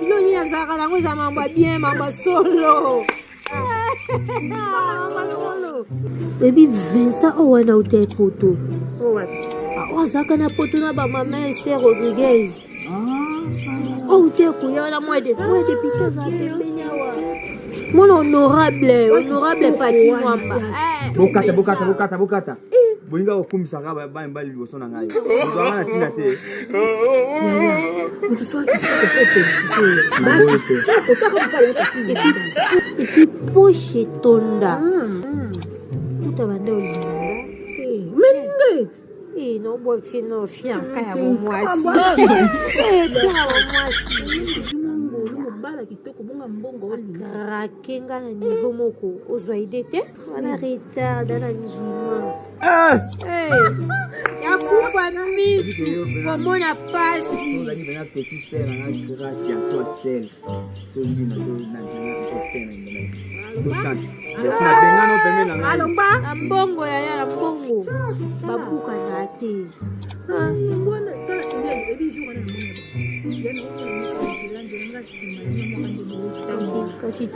bilo nini azalaka nango eza mambo ya bien mambo ya solo ebi vincent oyo wana uta epoto oyo azalaka na poto na bamama ester rodriguez oyo uta ekoya wana mwa depite azala pembeni awa mwana honorable honorable pati mwamba bokata bokata bokata bokata bolingi kokumisaka bana mibali liboso na ngai ozwanga na ntina te epiposhe etonda kuta banda olinga Eh, no boxe no fianka ya bomwasi bala kitoko bonga mbongo oyo krake nga na niveau moko ozwa ide te Wana retard na ndima. Eh! Eh! Ya kufa misu komona pasi. Alomba na mbongo ya ya mbongo babuka na te. Ah,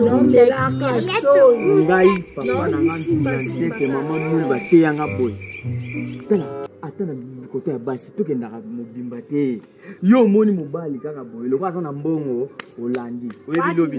naomelaka soni ngai papa na nga ndumba ntete mama mulu bateya nga boye tala ata na koto ya basi tokendaka mobimba te yo omoni mobali kaka boye loko aza na mbongo olandi oyebi lobi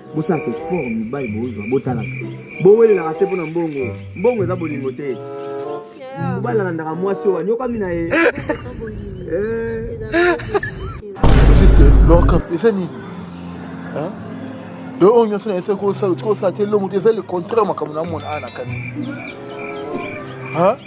bosala kofor mibali bozwa botalaka bowelelaka te mpo na mbongo mbongo eza bolingo te mobali alandaka mwasi oyo anyokami na ye juste lorka eza nini donc oyo nyonso nayesa kosala otika osala te elongo te eza le contraire makambo na mona aa na kati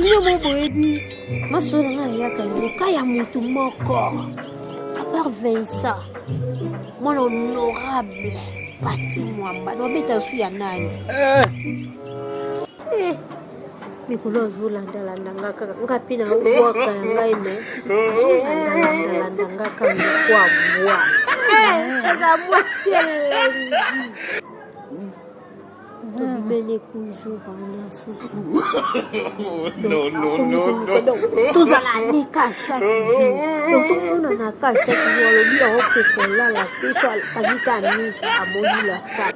bino mo boyebi masolo nga eyaka yango ka ya motu moko apart vincent mwana honorable pati mwamba nabeta su ya nani eh. Eh. mikolo azolandalanda nga kaka nga mpe naobwaka ya ngai me azolandalandalanda nga kaka kwa bwa eh, eza mwasi elengi tobimeli kujour wana susu tozala leka chaque jour tomonana ka chaque jour alobi yango mpe kolala te so abika miso amoni laka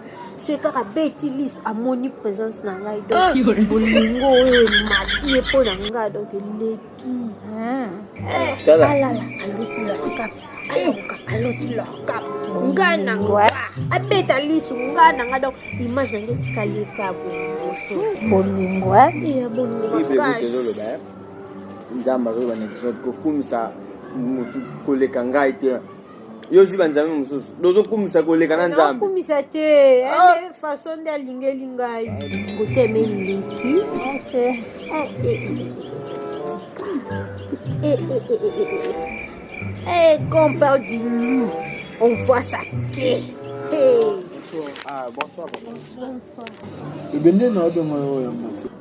soki kaka beti liso amoni présence na ngai donc bolingo oyo emati ye mpo na ngai donc eleki tala aloti lorka nga na nga abeta lisu nga na nga donc image yange etikali ekabo bolingo ya bolingo makasi nzambe azoloba na biso kokumisa motu koleka ngai te yo ozwi banzambe mosusu dozokumisa koleka na nzambe kumisa te eh, ah! eh, façon nde alingeli ngai koteme eleki compar du loup on voit sa quai ebende na obengo yo ya mati